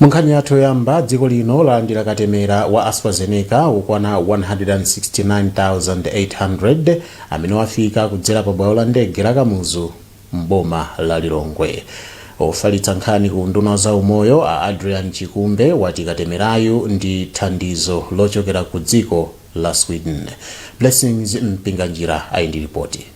Munkhani yathu yoyamba, dziko lino lalandira katemera wa AstraZeneca wokwana 169,800 amene wafika kudzera pa bwalo la ndege la Kamuzu m'boma la Lilongwe. Ofalitsa nkhani ku unduna wa zaumoyo a Adrian Chikumbe wati katemerayu ndi thandizo lochokera ku dziko la Sweden. Blessings Mpinganjira ali ndi lipoti.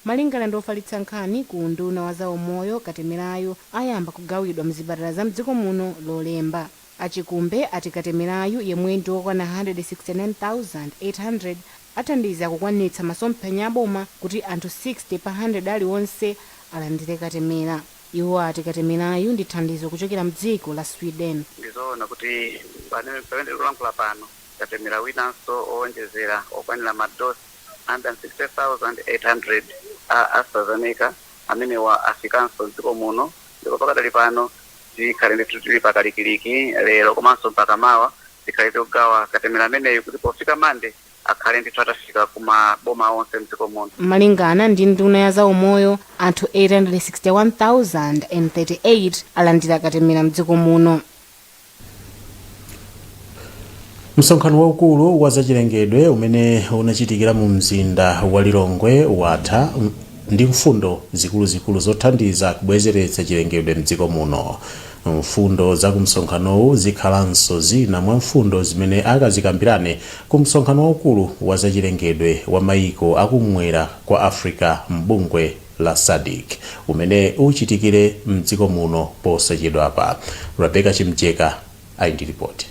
Malingana ndi ofalitsa nkhani ku unduna wa za umoyo katemerayu ayamba kugawidwa mzipatala za mdziko muno lolemba. A Chikumbe ati katemerayu yemwe ndi wokwana 169,800 athandiza kukwanitsa masomphenya a boma kuti anthu 60 pa 100 aliwonse alandire katemera. Iwo ati katemerayu ndi thandizo kuchokera mdziko la Sweden. Ndi zoona kuti pamene tikulankhula pano katemera winanso owonjezera okwanira ma dosi 160,800 a AstraZeneca amenewa afikanso m'dziko muno ndipo pakadali pano tikhale ndithu tili pakalikiliki lero komanso mpaka mawa tikhale tikugawa katemera ameneyu kuti pofika Monday akhale ndithu atafika ku ma boma onse m'dziko muno. Malingana ndi nduna ya za umoyo, anthu 861,038 alandira katemera m'dziko muno. Msonkhano waukulu wa zachilengedwe umene unachitikira mu mzinda wa Lilongwe watha ndi mfundo zikuluzikulu zothandiza kubwezeretsa chilengedwe m'dziko muno. Mfundo za ku msonkhanowu zikhalanso zina mwa mfundo zimene akazikambirane ku msonkhano waukulu wa zachilengedwe wa mayiko a kumwera kwa Africa m'bungwe la Sadc umene uchitikire m'dziko muno posachedwapa. Rebecca Chimjeka ali ndi lipoti.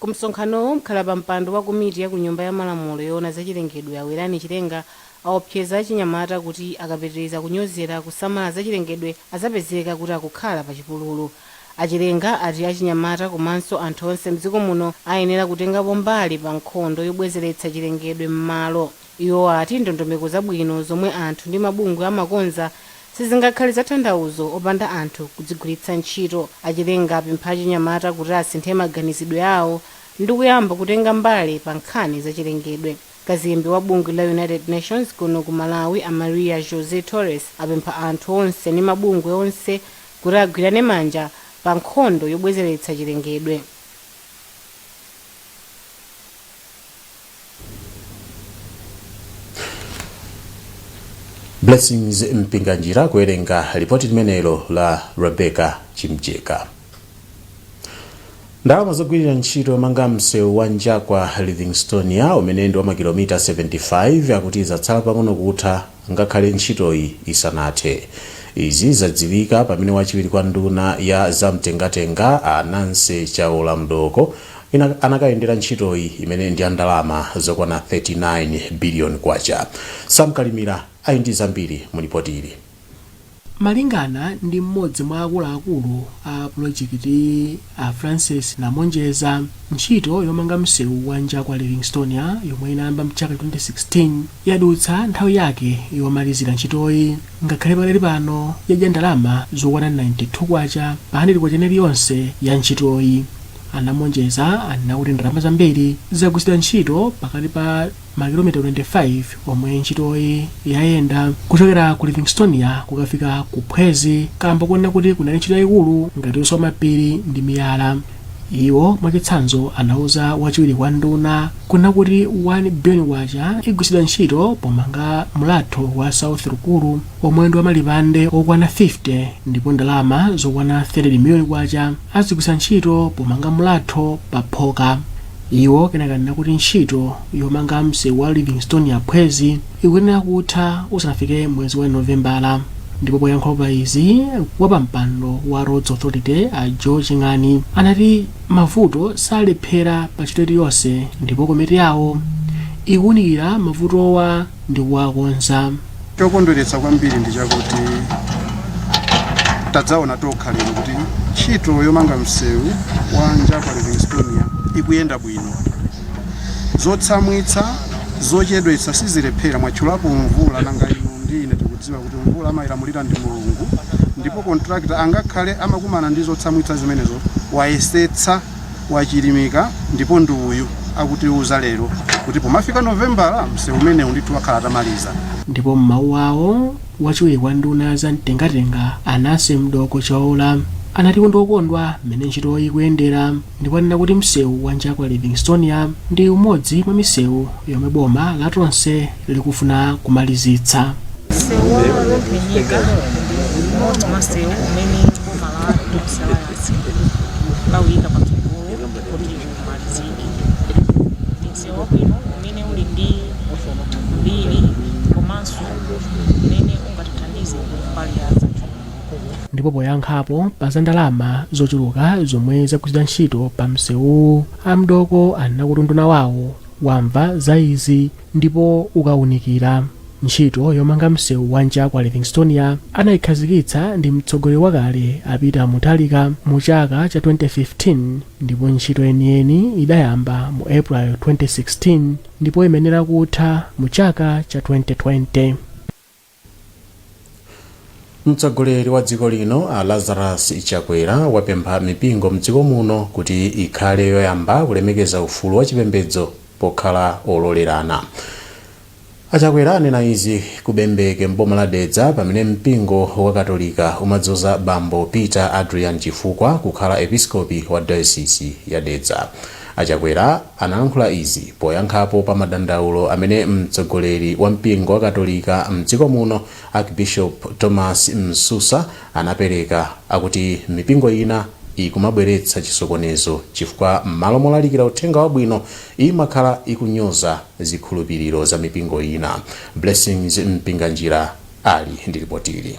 Ku msonkhanowu, mkhalapampando wa komiti ya ku Nyumba ya Malamulo yoona za chilengedwe a Werani Chilenga awopseza achinyamata kuti akapitiriza kunyozera kusamala za chilengedwe azapezeka kuti akukhala pa chipululu. A Chilenga ati achinyamata komanso anthu onse m'dziko muno ayenera kutengapo mbali pa nkhondo yobwezeretsa chilengedwe m'malo. Iwo ati ndondomeko zabwino zomwe anthu ndi mabungwe amakonza sizingakhale zatanthauzo opanda anthu kudzigwiritsa ntchito. A Chilenga apempha achinyamata kuti asinthe maganizidwe awo ndikuyamba kutenga mbali pa nkhani za chilengedwe. Kazembe wa bungwe la United Nations kuno ku Malawi a Maria José Torres apempha anthu onse ndi mabungwe onse kuti agwirane manja pa nkhondo yobwezeretsa chilengedwe. blessings mpinganjira kuwerenga lipoti limenelo la rebecca chimjeka ndalama zogwirira ntchito yomanga msewu wa njakwa livingstonia umene ndi wa makilomita 75 akuti zatsala pang'ono kutha ngakhale ntchitoyi isanathe. Izi zadziwika pamene wachiwiri kwa nduna ya za mtengatenga a Nancy Chaola Mdooko anakayendera ntchitoyi imene ndi ya ndalama zokwana K39 biliyoni. Sam Kalimira ali ndi zambiri mu lipotili. Malingana ndi m'modzi mwa akuluakulu a pulojekitiyi a Francis Namonjeza, ntchito yomanga msewu wa Njakwa Livingstonia yomwe inayamba mchaka 2016 yadutsa nthawi yake yomalizira ntchitoyi ngakhale pakadali pano yadya ndalama zokwana K92 pa K100 iliyonse ya ntchitoyi. A Namonjeza anena kuti ndalama zambiri zagwiritsidwa ntchito pakati pa. makilomita 25 omwe ntchitoyi yayenda kuchokera ku livingstonia kukafika ku phwezi kamba konena kuti kunali ntchito yayikulu ngati yoswa mapiri ndi miyala iwo mwachitsanzo anauza wachiwiri kwa nduna kunena kuti 1 billion kwacha igwiritsidwa ntchito pomanga mlatho wa south rukuru omwe ndi wamalipande okwana 50 ndipo ndalama zokwana 30 million kwacha azigwiritsa ntchito pomanga mlatho pa Phoka. Iwo kenaka anena kuti ntchito yomanga msewu wa Livingstonia Phwezi ikuyenera kutha usanafike mwezi wa Novembala ndipo poyankhula pa izi, wapampando wa Roads Authority a Joe Ching'ani anati mavuto salephera pa ntchito iliyonse ndipo komiti yawo ikuwunikira mavutowa ndi kuwakonza. Chokondweretsa kwambiri ndi chakuti tadzaona tokha lero kuti ntchito yomanga msewu wa Njakwa Livingstonia ikuyenda bwino. Zotsamwitsa zochedwetsa sizilephera mwatchulapo mvula nanga inu ndi ine tikudziwa kuti mvula amayilamulira ndi Mulungu ndipo kontrakita angakhale amakumana ndi zotsamwitsa zimenezo wayesetsa wachilimika ndipo ndi uyu akutiuza lero kuti pomafika novembala msewu umenewu ndithu akhala atamaliza ndipo m'mawu awo wachiwiri kwa nduna za mtengatenga a nancy mdooko chaola anati ndi okondwa mmene ntchitoyi ikuyendera ndipo anena kuti msewu wa njakwa livingstonia ndi umodzi mwa misewu yomwe boma la tonse likufuna kumalizitsa msewu wa lovinyika ndi umodzi mwa msewu umene boma la tonse lauyika patsogolo kuti umalizike ndi msewu wabwino umene uli ndi mbiri komanso umene ungatithandize mbali ya zachuma ndipo poyankhapo pa za ndalama zochuluka zomwe zagwiritsidwa ntchito pa msewuwu a mdooko anena kuti unduna wawo wamva za izi ndipo ukaunikira Ntchito yomanga msewu wa Njakwa Livingstonia anaikhazikitsa ndi mtsogoleri wakale a Peter Mutharika mu chaka cha 2015 ndipo ntchito yeniyeni idayamba mu April 2016 ndipo imayenera kutha mu chaka cha 2020. Mtsogoleri wa dziko lino a Lazarus Chakwera wapempha mipingo mdziko muno kuti ikhale yoyamba kulemekeza ufulu wa chipembedzo pokhala ololerana. A Chakwera anena izi ku Bembeke m'boma la Dedza pamene mpingo wa katolika umadzoza bambo Peter Adrian Chifukwa kukhala episkopi wa dayosisi ya Dedza. A Chakwera analankhula izi poyankhapo pa madandaulo amene mtsogoleri wa mpingo wa katolika mdziko muno Archbishop Thomas Msusa anapereka akuti mipingo ina ikumabweretsa chisokonezo chifukwa m'malo molalikira uthenga wabwino, imakhala ikunyoza zikhulupiriro za mipingo ina. Blessings Mpinganjira ali ndi lipotili.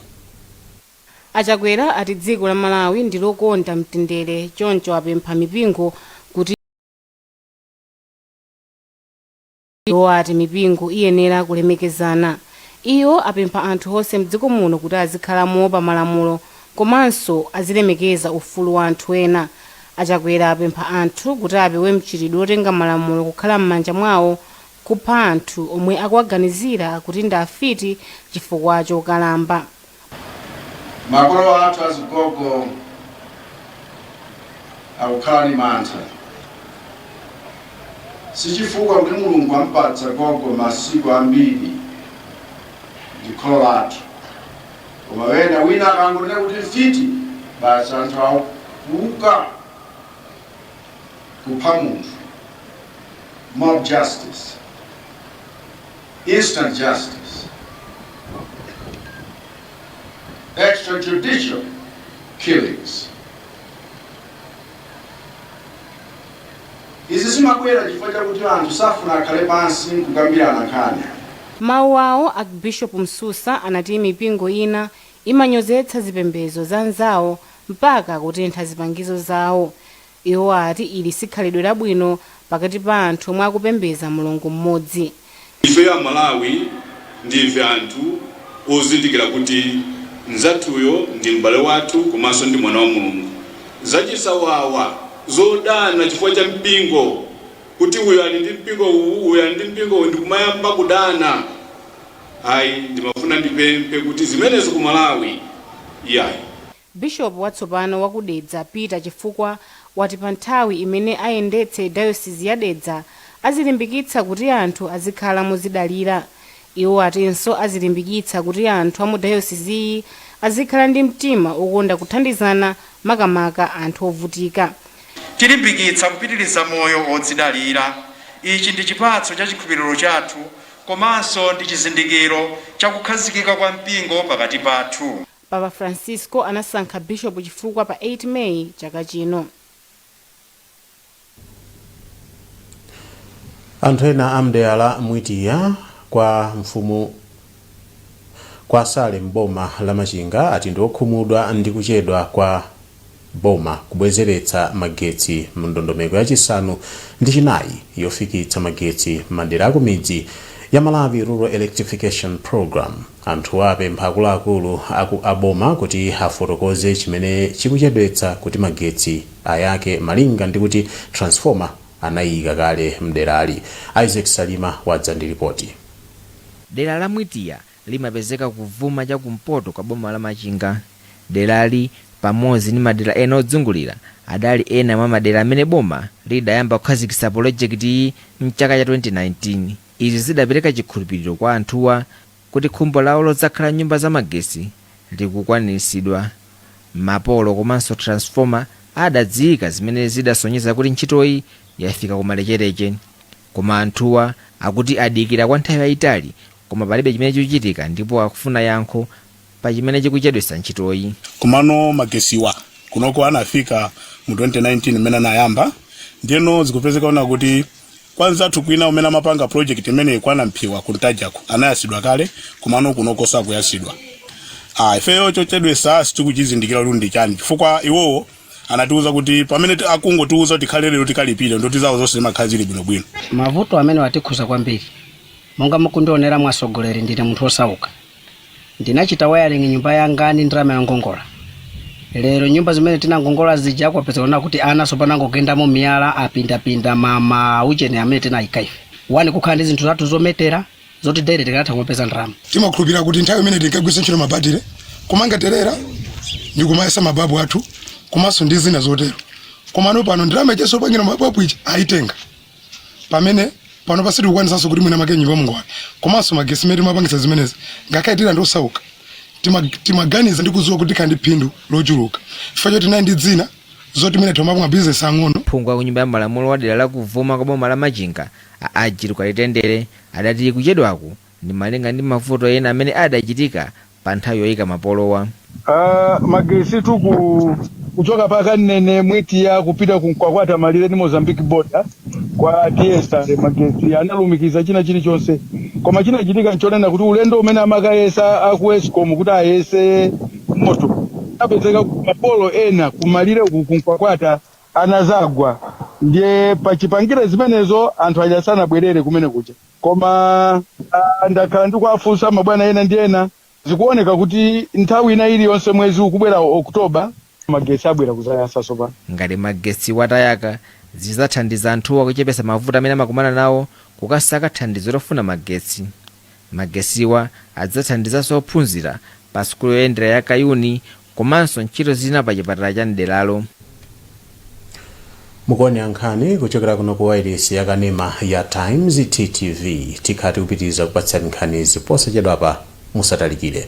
A Chakwera ati dziko la Malawi ndi lokonda mtendere choncho apempha mipingo kuti. Iwo ati mipingo iyenera kulemekezana. Iwo apempha anthu onse mdziko muno kuti azikhala moopa malamulo komanso azilemekeza ufulu wa anthu ena. A Chakwera apempha anthu kuti apewe mchitidwe otenga malamulo kukhala mmanja mwawo, kupha anthu omwe akuwaganizira kuti ndi afiti chifukwa chokalamba. Makolo athu azigogo akukhala ndi mantha sichifukwa kuti mulungu ampatsa gogo masiku ambiri ndi kholo lathu koma wena wina akangonena kuti mfiti basi anthu akuuka kupha munthu mob justice instant justice, extrajudicial killings. Izi zimabwera chifukwa chakuti anthu safuna akhale pansi kukambirana nkhani. M'mawu awo, Archbishop Msusa anati mipingo ina imanyozetsa zipembezo za anzawo mpaka kutentha zipangizo zawo. Iwo ati ili si khalidwe labwino pakati pa anthu omwe akupembeza Mulungu mmodzi. Ifeyo a Malawi ndife anthu ozindikira kuti mzathuyo ndi m'bale wathu komanso ndi mwana wa Mulungu. Zachisawawa zodana chifukwa cha mpingo kuti uyu ali ndi mpingo uwu, uyu ali ndi mpingo uwu ndikumayamba kudana ayi ndimafuna ndipemphe kuti zimenezo ku Malawi iyayi. Bishopu watsopano wa ku Dedza Peter Chifukwa wati pa nthawi imene ayendetse dayosizi ya Dedza azilimbikitsa kuti anthu azikhala modzidalira. Iwo atinso azilimbikitsa kuti anthu a mu dayosiziyi azikhala ndi mtima okonda kuthandizana makamaka anthu ovutika. Tilimbikitsa kupitiliza moyo wodzidalira. Ichi ndi chipatso cha chikhulupiriro chathu komanso ndi chizindikiro cha kukhazikika kwa mpingo pakati pathu. Papa Francisco anasankha Bishop Chifukwa pa 8 May chaka chino. Anthu ena a mdera la Mwitiya kwa mfumu ya Sale m'boma la Machinga ati ndiokhumudwa ndi kuchedwa kwa. boma kubwezeretsa magetsi mu ndondomeko ya chisanu ndi chinayi yofikitsa magetsi m'madera akumidzi ya Malawi Rural Electrification Programme, anthuwa apempha akuluakulu a boma kuti afotokoze chimene chikuchedwetsa kuti magetsi ayake malinga ndi kuti transformer anaiika kale m'derali. Isaac Salima wadza ndi lipoti. Dera la Mwitiya Limapezeka kuvuma cha kumpoto kwa boma la Machinga. Derali, pamodzi ndi madera ena odzungulira, adali ena mwa madera amene boma lidayamba kukhazikitsa polojekitiyi m'chaka cha 2019. Izi zidapereka chikhulupiriro kwa anthuwa kuti khumbo lawo lodzakhala m'nyumba za magetsi likukwaniritsidwa. Mapolo komanso transformer adadziika zimene zidasonyeza kuti ntchitoyi yafika kumalechereche. Koma anthuwa akuti adikira kwa nthawi yayitali koma palibe chimene chikuchitika ndipo akufuna yankho pa chimene chikuchedwetsa ntchitoyi. Komano magesiwa kunoko anafika mu 2019 mmene anayamba ndiyeno zikupezeka kunena kuti kwa mzathu kwina umene amapanga project imeneyi kwa Nampiya ku Ntajaku anayasidwa kale komano kunoko sakuyasidwa. Aaa ifeyo chochedwesa sitikuchizindikira kuti ndi chani chifukwa iwowo anatiuza kuti pamene ti- akungotiuza kuti tikhale lero tikalipire ndoti zawo zonse zimakhala zili bwinobwino mavuto amene watikhuza kwambiri monga mukundionera mwatsogoleri ndine munthu wosauka ndinachita wiring nyumba yanga ndi ndalama yongongola lero nyumba zimene tinangongola zija zikupezeka kunena kuti ana tsopano angogendamo miyala apindapinda ma maujeni amene tinayika ife wina kukhala ndi zinthu zathu zometera zoti daily tikanatha kumapeza ndalama timakhulupirira kuti nthawi imene tinkagwiritsa ntchito mabatire kumanga terera ndi kumayesa mababu athu komanso ndi zina zotero komano pano ndalama ichaso pangira mababu ichi ayitenga pamene pano sitikukwanisanso kuti mwinamwake m'nyumba muwale komanso magesi imene timapangisa zimenezi ngakhale tili anthu osauka tima- timaganiza ndi kudziwa kuti tikhala ndi phindu lochuluka chifukwa choti nayi ndi dzina zoti mwina timapanga bizinesi yaing'ono phungu wa kunyumba ya malamulo wa dera la kuvuma kwa boma la machinga A Ajilu Kalitendere adati kuchedwaku ndi malinga ndi mavuto ena amene adachitika pa nthawi yoyika mapolowa. Aaa magesitu kuchoka pa Kamnene Mwitiya kupita ku Nkwakwata malire ndi Mozambique border kwa Diestare magesi analumikiza china chilichonse koma chinachitika nchonena kuti ulendo umene amakayesa a ku escom kuti ayese moto kunapezeka kuti ma polo ena ku malire uku ku Nkwakwata anazagwa ndiye pachipangire zimenezo anthu aja sanabwerere kumene kuja koma ah, ndakhala ndikuwafunsa mabwana ena ndi ena zikuoneka kuti nthawi ina iliyonse mwezi ukubwerawu oktoba magetsi abwera kuzayasa tsopano ngati magetsi wa atayaka zizathandiza anthuwa kuchepesa mavuto amene amakumana nawo kukasaka thandizo lofuna magetsi Magesiwa adzathandizanso ophunzira pa sukulu yoyendera ya Kayuni komanso ntchito zina pa chipatala cha m'deralo. Mukuonera nkhani kuchokera kuno ku wailesi ya kanema ya Times TTV. Tikhala tikupitiriza kukupatsirani nkhanizi posachedwapa. Musatalikire.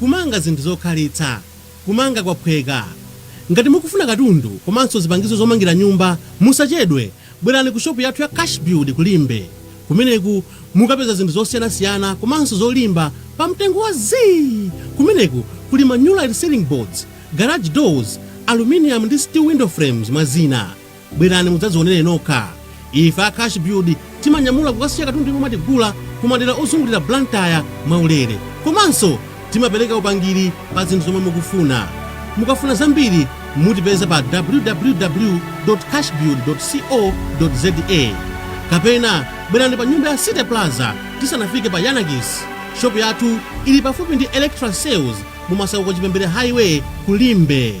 Kumanga zinthu zokhalitsa. Kumanga kwaphweka. Ngati mukufuna katundu komanso zipangizo zomangira nyumba, musachedwe, bwerani ku shopu yathu ya Cashbuild ku Limbe. Kumeneku mukapeza zinthu zosiyanasiyana komanso zolimba pa mtengo wa zii! Kumeneku kuli ma Nulite Ceiling Boards, Garage Doors, Aluminium ndi Steel Window Frames, mwa zina. Bwerani mudzadzionere nokha. Ife a Cashbuild timanyamula kukasiya katundu yemwe mwatigula ku madera ozungulira Blantyre mwaulere. Komanso timapereka upangiri pa zinthu zomwe mukufuna. Mukafuna zambiri mutipeza pa www.cashbuild.co.za kapena bwerani pa nyumba ya City Plaza tisanafike pa Yanakis. Shop yathu ili pafupi ndi Electra Sales mu Masauko Chipembere Highway ku Limbe.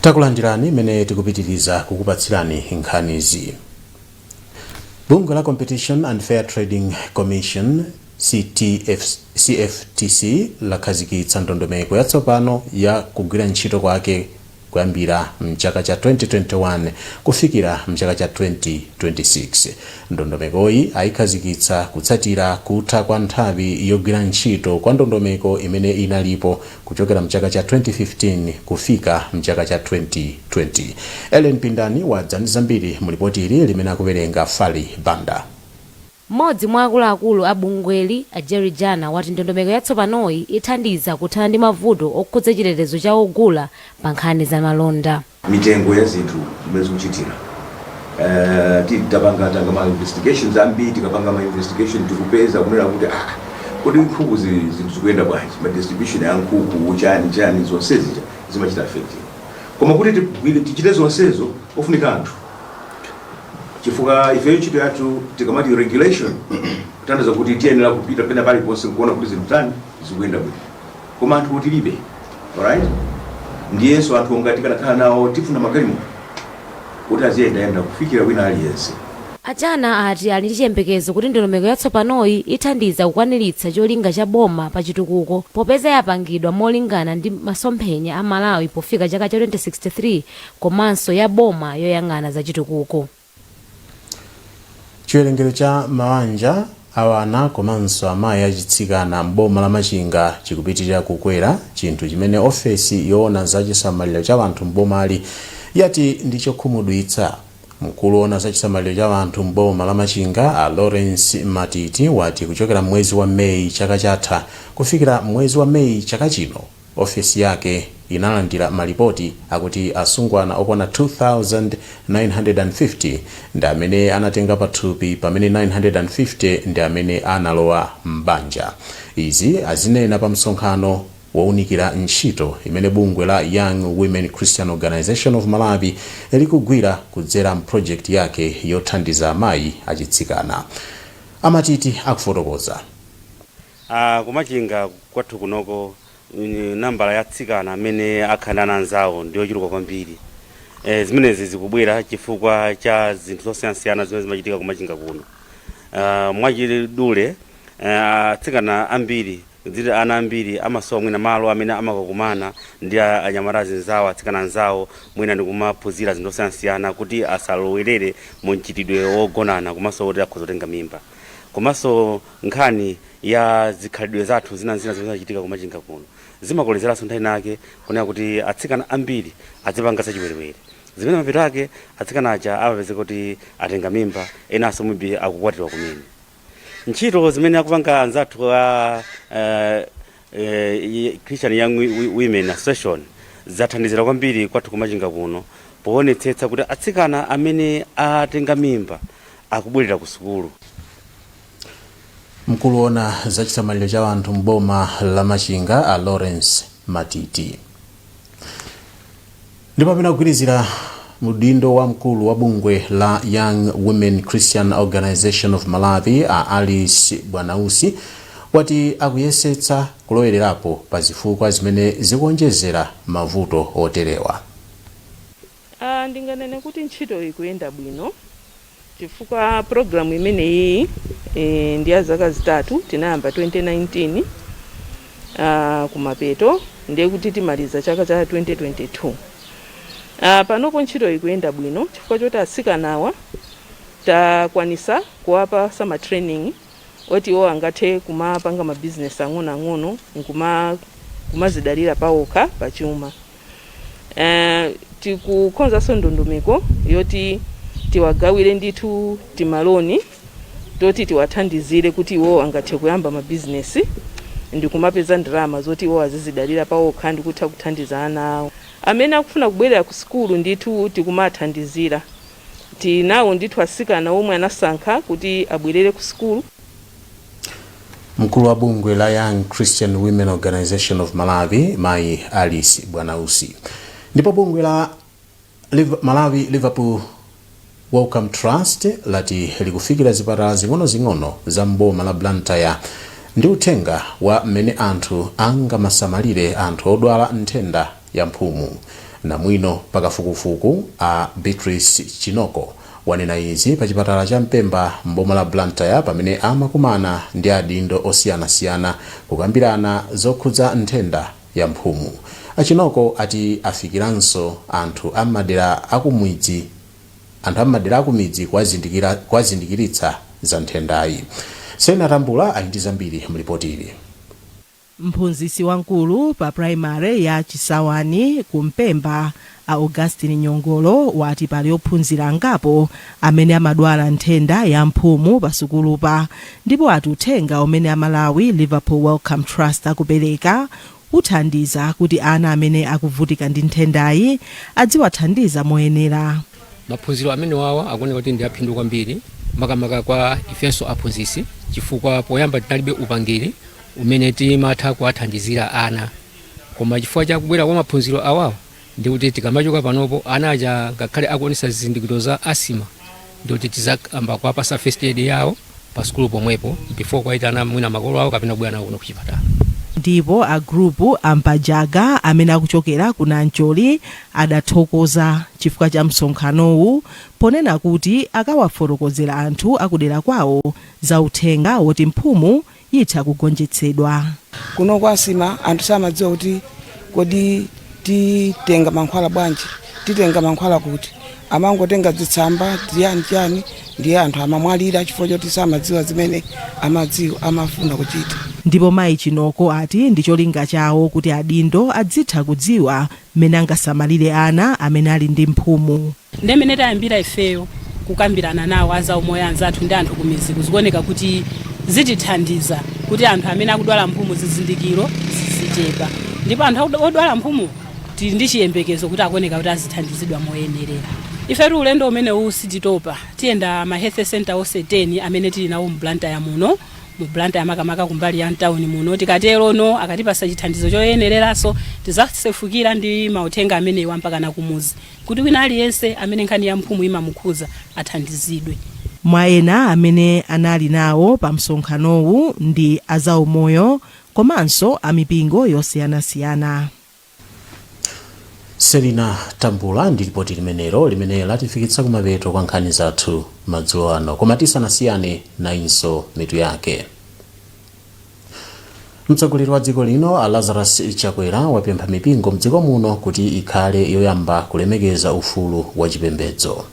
takulandirani mmene tikupitiriza kukupatsirani nkhanizi bungwe la competition and fair trading commission cftc lakhazikitsa ndondomeko yatsopano ya kugwira ntchito kwake kuyambira mchaka cha 2021 kufikira mchaka cha 2026. Ndondomekoyi ayikhazikitsa kutsatira kutha kwa nthawi yogwira ntchito kwa ndondomeko imene inalipo kuchokera mchaka cha 2015 kufika mchaka cha 2020. Ellen Pindani wadza ndi zambiri mu lipoti ili limene akuwerenga Fally Banda. Mmodzi mwa akuluakulu a bungweli, a Jerry Jana, wati ndondomeko yatsopanoyi ithandiza kuthana ndi mavuto okhudza chitetezo cha ogula pa nkhani za malonda. mitengo ya zinthu zimene zikuchitika ti tapanga tanga ma investigations ambiri tikapanga ma investigation tikupeza kunena kuti aah kodi nkhuku zi zinthu zikuyenda bwanji ma distribution a nkhuku chani chani zonse zija zimachita affect koma kuti tigwire tichite zonsezo pafunika anthu chifukwa ifeyo ntchito yathu tikamati regulation kutanthauza kuti tiyenera kupita pena paliponse nkuona kuti zinthu zatani zikuyenda bwino koma anthu tilibe alright ndiyenso anthu ngati tikanakhala nawo tifuna magalimoto kuti aziyendayenda kufikira wina aliyense A Jana ati ali ndi chiyembekezo kuti ndondomeko yatsopanoyi ithandiza kukwaniritsa cholinga cha boma pa chitukuko popeza yapangidwa molingana ndi masomphenya a Malawi pofika chaka cha 2063 komanso ya boma yoyang'ana za chitukuko. Chiwerengero cha mabanja a ana komanso amayi achitsikana m'boma la Machinga chikupitirira kukwera, chinthu chimene ofesi yoona za chisamaliro cha anthu m'bomali yati ndi chokhumudwitsa. Mkulu woona za chisamaliro cha anthu m'boma la Machinga, a Lawrence Matiti, wati kuchokera m'mwezi wa May chaka chatha kufikira mwezi wa May chaka chino, Ofesi yake inalandira malipoti akuti asungwana okwana 2,950 ndi amene anatenga pathupi pamene 950 ndi amene analowa m'banja. Izi azinena pa msonkhano wounikira ntchito imene bungwe la Young Women Christian Organisation of Malawi likugwira kudzera m'projekiti yake yothandiza amayi achitsikana. A Matiti akufotokoza. A ku Machinga kwathu kunoko nambala ya atsikana amene akhala ndi ana anzawo ndiyochuluka kwambiri. E, zimenezi zikubwera chifukwa cha zinthu zosiyanasiyana zimene zimachitika ku Machinga kuno. A, mwachidule e, atsikana ambiri dziti ana ambiri amasowa mwina malo amene amakakumana ndi a- anyamata anzawo atsikana anzawo mwina ndikumaphunzira zinthu zosiyanasiyana kuti asalowerere mu mchitidwe wogonana komanso kuti akhoza kutenga mimba komanso Nkhani ya zikhalidwe zathu zina n'zina zimene zimachitika ku Machinga kuno zimakolezeranso nthawi inayake kunena kuti atsikana ambiri azipanga zachiwerewere, zimene mapeto ake atsikana aja amapezeka kuti atenga mimba, enanso maybe akukwatiwa kumene. Ntchito zimene akupanga anzathu a eh, eh, i- Christian Young Wi- Wi- Women Association zathandizira kwambiri kwathu ku Machinga kuno poonetsetsa kuti atsikana amene atenga mimba akubwerera ku sukulu. mkulu woona za chisamaliro cha anthu m'boma la machinga a lawrence matiti ndipo amene akugwirizira udindo wa mkulu wa bungwe la young women christian organization of malawi a alice bwanausi wati akuyesetsa kulowererapo pa zifukwa zimene zikuonjezera mavuto oterewa Aaa ndinganene kuti ntchitoyi ikuyenda bwino chifukwa program imeneyiyi eh, ndi ya zaka zitatu tinayamba 2019 ah, kumapeto ndiye kuti timaliza chaka cha 2022 ah, panopo ntchito ikuyenda bwino chifukwa choti atsikanawa takwanisa kuwapasa ma training oti iwo angathe kumapanga mabizinesi ang'onoang'ono nkuma kumazidalira pawokha pachuma Eh, tikukonzanso ndondomeko yoti tiwagawire ndithu timaloni toti tiwathandizire kuti iwo angathe kuyamba mabizinesi ndikumapeza ndalama zoti iwo azizidalira pawokha ndikutha kuthandiza ana awo amene akufuna kubwerera ku sukulu ndithu tikumathandizira tinawo ndithu asikana omwe anasankha kuti abwerere ku sukulu Mkulu wa bungwe la Young Christian Women Organization of Malawi mayi Alice Bwanausi ndipo bungwe la Malawi Liverpool Wellcome Trust lati likufikira zipatala zing'onozing'ono za m'boma la Blantyre ndi uthenga wa mmene anthu angamasamalire anthu odwala nthenda ya mphumu. Namwino pakafukufuku a Beatrice Chinoko wanena izi pa chipatala cha Mpemba m'boma la Blantyre pamene amakumana ndi adindo osiyanasiyana kukambirana zokhudza nthenda ya mphumu. A Chinoko ati afikiranso anthu a m'madera akumidzi kuwazindikiritsa za nthendayi. Sena Tambula ali ndi zambiri m'lipoti ili. Mphunzitsi wamkulu pa primary ya Chisawani ku Mpemba a Augustine Nyongolo wati pali ophunzira angapo amene amadwala nthenda ya mphumu pa sukulupa ndipo ati uthenga umene a Malawi Liverpool Wellcome Trust akupereka uthandiza kuti ana amene akuvutika ndi nthendayi adziwathandiza moyenera. Maphunziro amenewawa akuoneka kuti ndi aphindu kwambiri makamaka kwa ifenso aphunzitsi chifukwa poyamba tinalibe upangiri umene timatha kuwathandizira ana koma chifukwa cha kubwera kwa maphunziro awawa ndi kuti tikamachoka panopo ana aja ngakhale akuonesa zizindikiro za asima ndi kuti tizayamba kuwapasa first aid yawo pa sukulu pomwepo before kuwayitana mwina makolo awo kapena kubwera nawo kuno kuchipatala ndipo a gurupu a mpajaga amene akuchokera ku nancholi adathokoza chifukwa cha msonkhanowu ponena kuti akawafotokozera anthu akudera kwawo za uthenga woti mphumu itha kugonjetsedwa. Kuno kwa asima anthu samadziwa kuti kodi titenga mankhwala bwanji, titenga mankhwala kuti. Amangotenga dzitsamba chiyani chiyani ndiye anthu amamwalira chifukwa choti samadziwa zimene amadziwo amafuna kuchita. Ndipo mayi Chinoko ati ndi cholinga chawo kuti adindo adzitha kudziwa mmene angasamalire ana amene ali ndi mphumu. Nde mene tayambira ifeyo kukambirana nawo a zaumoyo anzathu ndi anthu kumidziku zikuoneka kuti zitithandiza kuti anthu amene akudwala mphumu zizindikiro zizichepa ndipo anthu odwala mphumu tili ndi chiyembekezo kuti akuoneka kuti azithandizidwa moyenerera. Ifetu ulendo umenewu sititopa, tiyenda ma Health Centre onse 10 amene tili nawo mu Blantyre muno, mu Blantyre makamaka kumbali ya mtauni muno. Tikaterono akatipatsa chithandizo choyenereranso, tizasefukira ndi mauthenga amenewo mpakana kumuzi. kuti wina aliyense amene nkhani ya mphumu imamukhudza athandizidwe. Mwa ena amene anali nawo pa msonkhanowu ndi a zaumoyo komanso a mipingo yosiyanasiyana. selina tambula ndi lipoti limenelo limene latifikitsa kumapeto kwa nkhani zathu madzulo ano koma tisanasiyane nayinso mitu yake mtsogoleri wa dziko lino a lazarus chakwera wapempha mipingo mdziko muno kuti ikhale yoyamba kulemekeza ufulu wa chipembedzo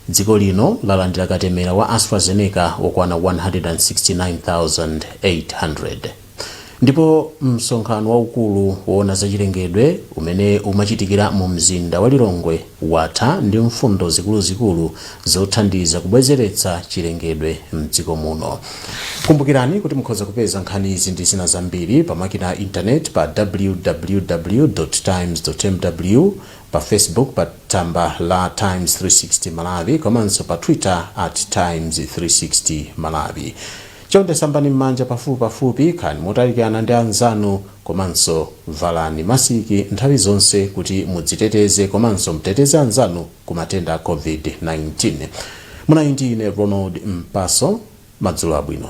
dziko lino lalandira katemera wa astrazeneca wokwana 169800 ndipo msonkhano waukulu woona zachilengedwe umene umachitikira mu mzinda wa lilongwe watha ndi mfundo zikuluzikulu zothandiza kubwezeretsa chilengedwe m'dziko muno. Kumbukirani kuti mukhoza kupeza nkhanizi ndi zina zambiri pa makina a intaneti pa www. Times. mw, pa Facebook pa tsamba la Times 360 Malawi komanso pa Twitter at Times 360 Malawi. Chonde sambani m'manja pafupipafupi, khalani motalikirana ndi anzanu, Komanso valani masiki nthawi zonse kuti mudziteteze komanso mteteze anzanu ku matenda a COVID-19. Munali ndi ine Ronald Mpaso. Madzulo abwino.